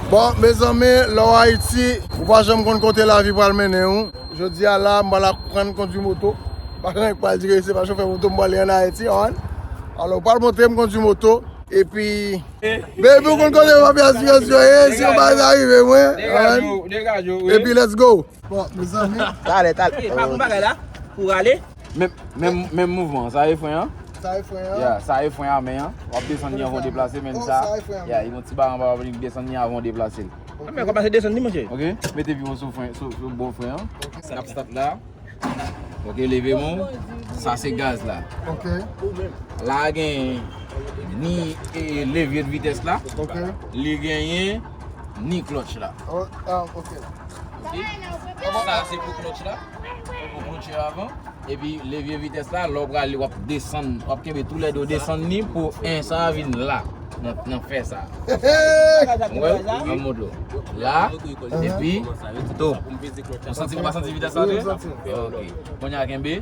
Bon mezanmi lè w Ayiti ou pa janm konn kote lavi pral mennen w, jodi a la m pral aprann kondwi moto, pa gen lè m pral di ke se pa chofè moto m pral ye an Ayiti an, alò w pral montre m kondwi moto epi Baby ou konn kote mafya sipèsyon ye si yon bagay ta rive mwen an epi let's go. Bon mezanmi. Talè talè. Epa bon bagay la pou rale. Menm mouvman an. Sa e fren an. Sa e fren an. Ya sa e fren a men an. Wap desann ni avan w deplase menm sa. Oh sa e fren an. Ya yon ti ba anba wap vin desann ni avan w deplase l. Ok. Menm kòmanse desann ni monche. Ok mete pi w sou fren sou bon fren an. Ok. Sa ap start la. Ok leve men w. Sa se gaz la. Ok. La genyen ni levye de vitès la. Ok. Li genyen. ni klòtch la. Ok. Sa se pou klòtch la. Pou klòtch la avan. E pi levye vitès la, lè w pral li w ap desann. W ap kenbe tou lè 2 desann ni pou 1 sa a vin la. Nan fè sa. Ou wè l? An mou dlo. La. E pi. Tou. Ou santi ou pa santi vitès la tou? Santi. Ok. Konya kenbe.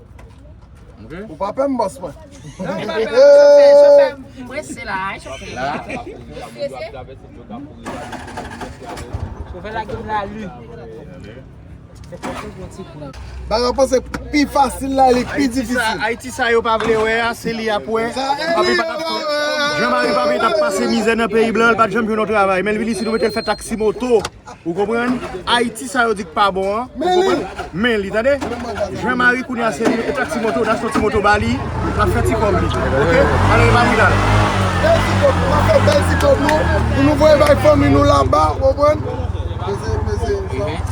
Ou pa pè m bòs mwen. Bagay ou panse pi fasil la li pi difisil. Ayiti sa yo pa vle wè a se li y ap wè. Jan mari papi t ap pase mizè nan peyi blan l pa t janm jwenn yon travay. Men l vin isit yo mete l fè taksi moto. Ou konprann? Ayiti sa yo di k pa bon an, ou konprann? Men li tande. Jean Marie kounye a se li, e ta ti moto, nas yon ti moto ba li, l ap fè ti kòb li. Ok? Al gen bagay la l. Bèl ti kòb, nou ap fè bèl ti kòb nou, pou nou voye bay fanmi nou laba, ou konprann? Peze, peze, sa.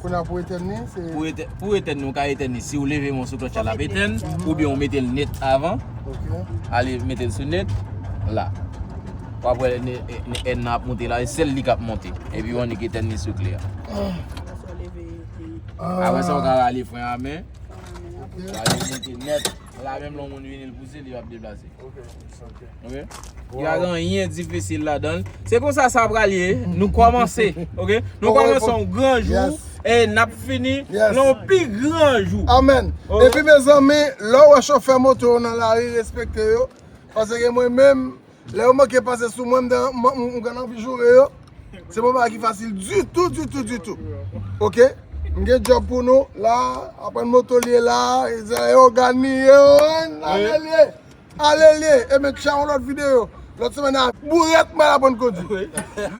Kounye a pou etèn ni se. Pou etèn ni ou ka etèn ni si ou leve men w sou klòtch la l ap etèn oubyen ou mete l net avan. Ok. Ale mete l sou net la. W ap wè èn nan ap monte la e sèl li k ap monte. Epi ou annik etèn ni sou kle a. Apre sa ou ka rale fren a men. Ok. Sa li monte net. La menm lè yon moun vini l pouse li ap deplase. Ok. Ok. Wow. Y'a rien difficile la dan. Se konsa sa pral ye. Nou komanse. Ok. Nou komanse yon gran jou. Yes. E nap fini. Yes. Yon pi gran jou. Amen. Ok. E pi mezanmi, lè ou wè chofè moto yo nan lari respekte yo. Pase ke mwen menm, lè yo manke pase sou mwen, m gen anvi joure yo. Se pa yon bagay ki fasil ditou, ditou, ditou. Ok. M gen djob pou nou la. Aprann moto li ye la. Yo di a e ogan li ye. Yo ann, ann li ye. Alelye e men tcha yon lot video lot semen a. Bourèt mwen aprann kondwi.